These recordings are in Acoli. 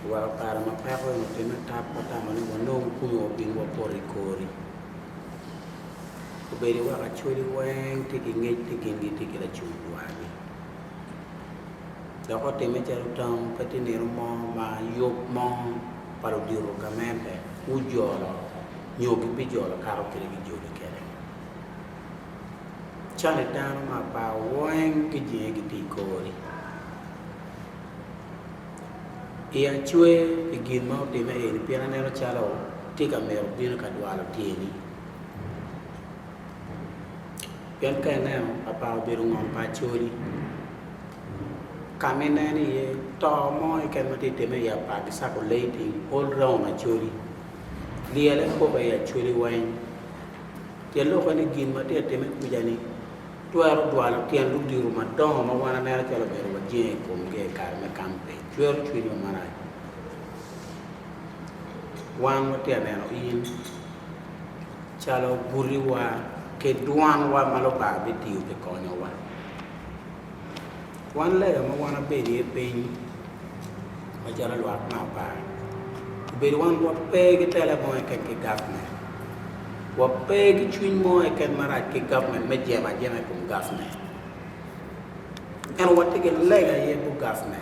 Wa i kare ma peko onyo pii me tap wa tamo ni wa nong kumu wa bino wa poto i kori obedo wa ka cwali weng tye ki ngec tye ki nge tye ki lacum dwagi dok otime calo tam pe tye nino mo ma yub mo pa ludito gamente gu jolo nyo gi bi jolo kato kit gi joli kede cani dano ma apar weng gi jinge gi tye i kori Iya cwer pi gin ma otimme eni pien aneno calo tye ka mito bino ka dwalo tyeni. Pien ka ineno papa obedo ngom pa acholi ka ma ineno iye to mo keken ma tye ka timme i apar ki circulating all round acholi lyelle koko i acholi weng. Pien lok en ni gin ma tye ka timme kuca ni Twero jwalo tyen odiro madongo ma wan aneno calo obedo wajenge i komgi i kare me kampe. Cwero cwinywa marac. Wan watye ka neno in calo gutiwa ki dwanwa ma Lubanga bitiyo pi konyowa. Wan lega ma wan abedo iye piny macalo lwak me apar, obedo wan wape ki tela mo keken ki gavment, wape ki cwiny mo keken marac ki gavment me jemo ajema i kom gavment. Ento watye ki lega iye bot gavment.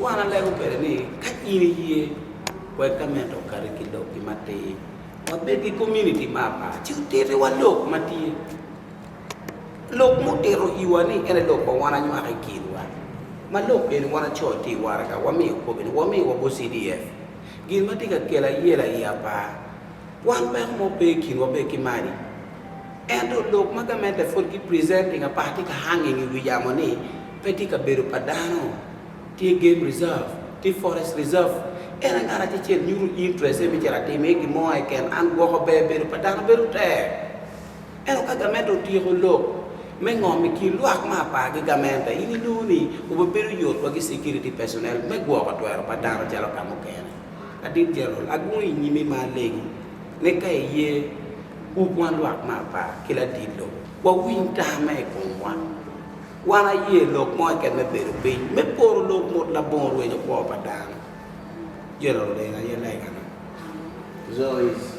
Wan alego kwede ni ka in iye, wek ka mito okati ki lokki matir, wabed ki komuniti me apar ci otitiwa lok ma tye, lok ma otito iwa ni en aye lok ma wan anywako i kinwa, ma lok eni wan acoo tye i waraga, wamiyo kobbe ni wamiyo wa bot CDF. Gin ma tye ka kelo ayela i apar. Wan peko mo pe i kinwa pe ki mani. Ento lok ma gamente pwod gi presenting apart tye ka hanging i wi yamo ni pe tye kabedo pa dano, tye game reserve, tye forest reserve. En aye ngat acecel nyuto interest ne myero atim iye gin mo keken, an gwoko ber bedo pa dano bedo tek. Ento ka gamente otyeko lok me ngom i kin lwak ma apar ki gamente in inongo ni obebedo yot wagi security personnel me gwoko twero pa dano calo ka mukene. Adit Jenerol, agungo i nyimi ma alegi, me ka iye wu kwan lwak me apar ki ladit lok, wawiny tamma i komwa. Wan aye lok mo keken me bedo piny, me poro lok mot labongo rwenyo kwo pa dano. Jenerol en aye legana. Zois.